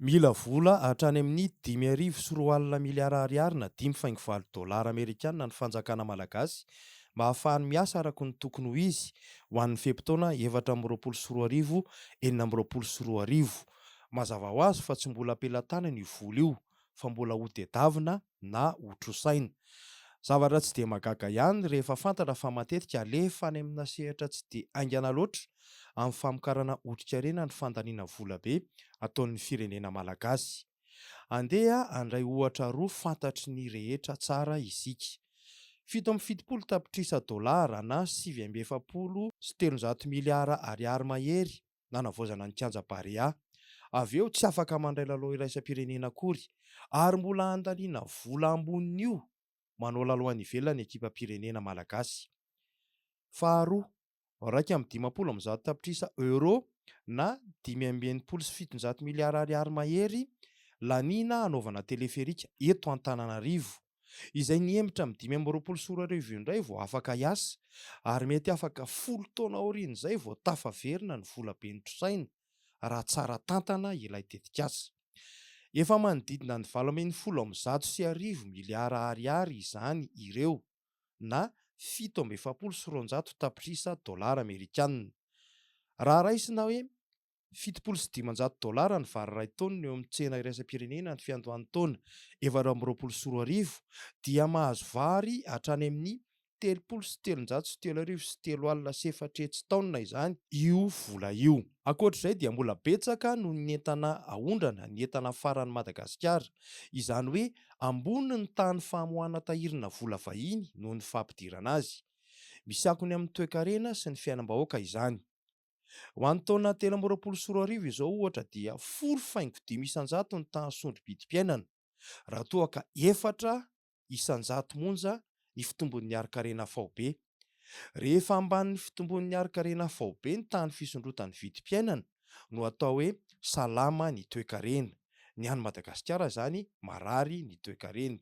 Mila vola hatrany amin'ny dimy arivo sy roa alina miliara ariary na dimy faingo valo dolara amerikana ny fanjakana malagasy mba hahafahany miasa araka ny tokony ho izy ho an'ny fe-potoana efatra amby roapolo sy roa arivo, enina amby roapolo sy roa arivo. Mazava ho azy fa tsy mbola am-pelatanana io vola io fa mbola hodedavina na ho trosaina. Zavatra tsy dia mahagaga ihany rehefa fantatra fa matetika alefa any amina sehatra tsy dia haingana loatra amin'ny famokarana otrikarena ny fandaniana vola be ataon'ny firenena malagasy. Andeha handray ohatra roa fantatry ny rehetra tsara isika. Fito amby fitopolo tapitrisa dolara na sivy amby efapolo sy telonjato miliara ariary mahery nanavaozana ny kianja Barea. Avy eo tsy afaka mandray lalao iraisam-pirenena akory ary mbola andaniana vola ambonin'io manao lalao any ivelany ny ekipam-pirenena malagasy. Faharoa, iraika amby dimampolo amby zato tapitrisa euros na dimy amby enimpolo sy fitonjato miliara ariary mahery laniana hanaovana teleferika eto Antananarivo. izay nihemotra amin'ny dimy amby roapolo sy roa arivo io indray vao afaka hiasa ary mety afaka folo taona aorian'izay vao tafaverina ny vola be notrosaina raha tsara tantana ilay tetikasa. Efa manodidina ny valo ambin'ny folo amby zato sy arivo miliara ariary izany ireo na fito amby efapolo sy roanjato tapitrisa dolara amerikana. Raha raisina hoe Fitopolo sy dimanjato dolara ny vary iray taonina eo amin'ny tsena iraisam-pirenena ny fiandohan'ny taona efatra amby roapolo sy roa arivo dia mahazo vary hatrany amin'ny telopolo sy telonjato sy telo arivo sy telo alina sy efatretsy taonina izany io vola io. Ankoatra izay dia mbola betsaka noho ny entana aondrana ny entana afaran'i Madagasikara. Izany hoe ambony ny tahan'ny famoahana tahirina vola vahiny noho ny fampidirana azy. Misy akony amin'ny toekarena sy ny fiainam-bahoaka izany. Ho an'ny taona telo amby roapolo sy roa arivo izao ohatra dia folo faingo dimy isan-jato ny tahan'ny sondro-bidim-piainana raha toa ka efatra isan-jato monja ny fitombon'ny harin-karena faobe. Rehefa ambanin'ny fitombon'ny harin-karena faobe ny tahan'ny fisondrotan'ny vidim-piainana no atao hoe salama ny toekarena. Ny an'i Madagasikara izany marary ny toekareny.